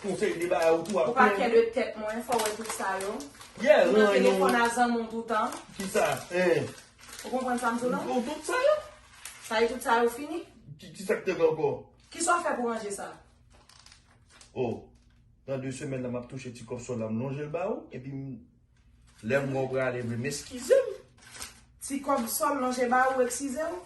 Pou fè de bagay ou tou ap plenn. Ou pa kè de tèt mwen fò wè tout sa yo. Yeah ou nan telefòn a zanmi w toutan. Kisa eh. Ou konprann sa m di w la? Ou tout sa yo. Sa e tout sa yo fini? Kisa k te gen ankò? Kisa w fè pou ranje sa? Oh. Nan 2 semèn nan m ap touche ti kòb sòl la m lonje l ba ou epi m. Lè m wè w prale vre m eskize m. Ti kòb sòl lonje ba ou eksize w.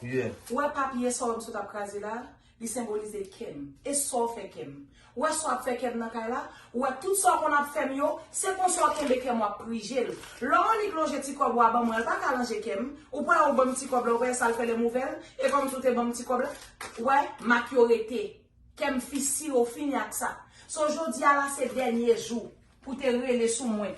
Ou wè papye sa w m sot ap kraze la, li senbolize kè m. E sa w fè kè m. Ou wè sa w ap fè kè m nan kay la. Ou wè tout sa w konn ap fè m yo. Se konsa w kenbe kè m w ap prije l. Lè w annik lonje ti kòb ou a ban mwen an, l pa ka lanje kè m. Ou pa wè ou ban m ti kòb la, ou pa wè sa l fè lè m ouvè l. E kòm si w te ban m ti kòb la. Ou wè, mak yo rete. Kè m fisire, w fini ak sa. So jodi a la se dènye jou. Pou te rele sou mwen.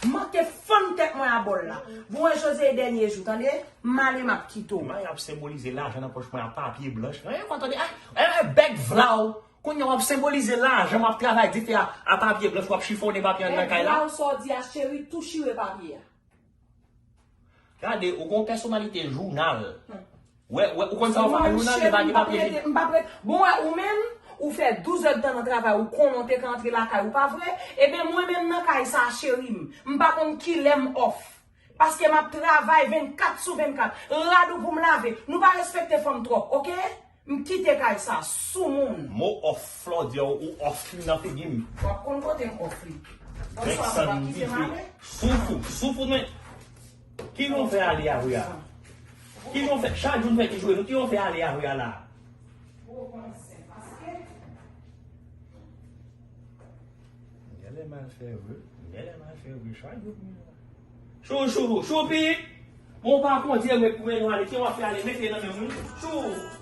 M manke fann tèt mwen a bòl la. Bon wè Jose e dènye jou tande. M ale m ap kite w. May ap senbolize lajan nan pòch mwen a papye blanch. An yon tande a yon bèk vlaw. Kounye a w ap senbolize lajan m ap travay dife a papye blanch w ap chifonnen papye an nan kay la. Vlaw sa w di a cheri tou chire papye a. Gade ou gon pèsonalite jounal. Wè wè ou konn sa ou fè ak jounal li pa gen papye li. M pa prete bon wè ou menm ou fè 12 èd tan nan travay ou konnen ou te ka antre lakay ou pa vre ebyen mwen menm nan kay sa cheri m m pa konn kilè m off paske m ap travay 24 sou 24 rad ou pou m lave nou pa respekte fanm twòp ok. M kite kay sa sou moun. Mo off flò diw ou off li nan figim. Wap konn kotem off li. Bonswa mwen pap kitem ale. Soufou soufou men ki nou fè ale a ria ki nou fè chak jou nou fè ti jwe nou ki nou fè ale a ria la. Ou konn se paske. Genlè mal fè vre, genlè mal fè vre chak jou pi mal. Chou chou choupi Bon pa kondye met pou men nou ale ki wap fè ale mete nan menm nou chou.